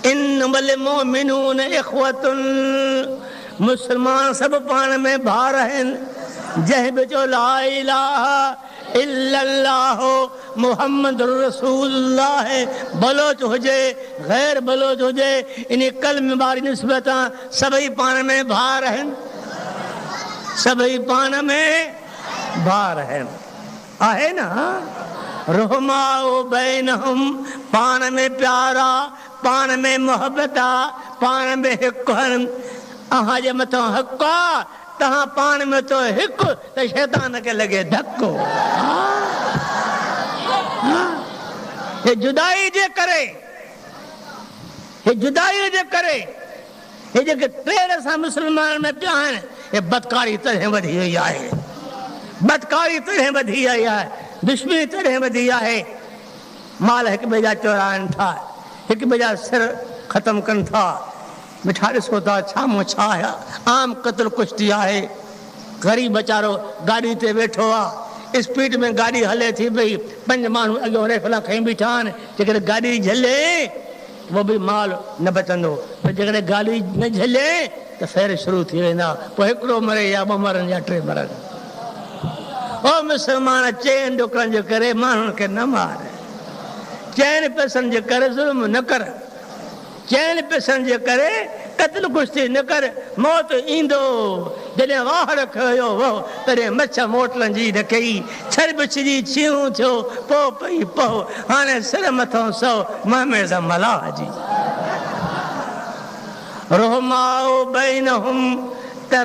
انما المؤمنون اخوة، مسلمان سڀ پاڻ ۾ ڀائر آهن، جنهن به چيو لااله الا الله محمد رسول الله بلوچ هجي غير بلوچ هجي انهي ڪلمي واري نسبت سان سڀئي پاڻ ۾ ڀائر آهن سڀئي پاڻ ۾ ڀائر آهن. آهي نه رحماء بينهم پاڻ ۾ پيار آ، پاڻ ۾ محبت آ، پاڻ ۾ هڪ هن، اوهان جي مٿان حق آ، توهان پاڻ ۾ ٿيو هڪ ته شيطان کي لڳي ڌڪ هو هي جدائي جي ڪري هي جدائي جي ڪري. هي جيڪي ٽيڙ سان مسلمانن ۾ پيا آهن، هي بدڪاري تڏهن وڌي وئي آهي. بدڪاري تڏهن وڌي آئي آهي، دشمني تڏهن وڌي آهي. مال هڪ ٻئي جا چورائن ٿا، هڪ ٻئي جا سر ختم ڪن ٿا. مٺا ڏسو ٿا ڇا مان ڇا آهيا، عام قتل ڪشتي آهي. غريب ويچارو گاڏي تي ويٺو آهي، اسپيڊ ۾ گاڏي هلي ٿي پئي، پنج ماڻهو اڳيون ريفلا کڻي بيٺا آهن، جيڪڏهن گاڏي جهلي. ڪو به مال نه بچندو، پر جيڪڏهن گالي نه جهليائين ته ڦير شروع ٿي ويندا، پوء هڪڙو مري يا ٻه مرن يا ٽي مرن. او مسلمان! چئن ڏکن جي ڪري ماڻهن کي نه مار، چئن پئسن جي ڪري ظلم نه ڪر، چئن پئسن جي ڪري قتل ڪشتي نه ڪر، موت ايندو. جڏهن واهڙ کنيو وهو، تڏهن مڇ موٽڻ جي نه ڪئي. ڇر بڇجي ڇيهون ٿيو، پوء پئي پهه. هاڻي سر مٿان سئو، مهميز ملاح جي. رحماء بينهم تر.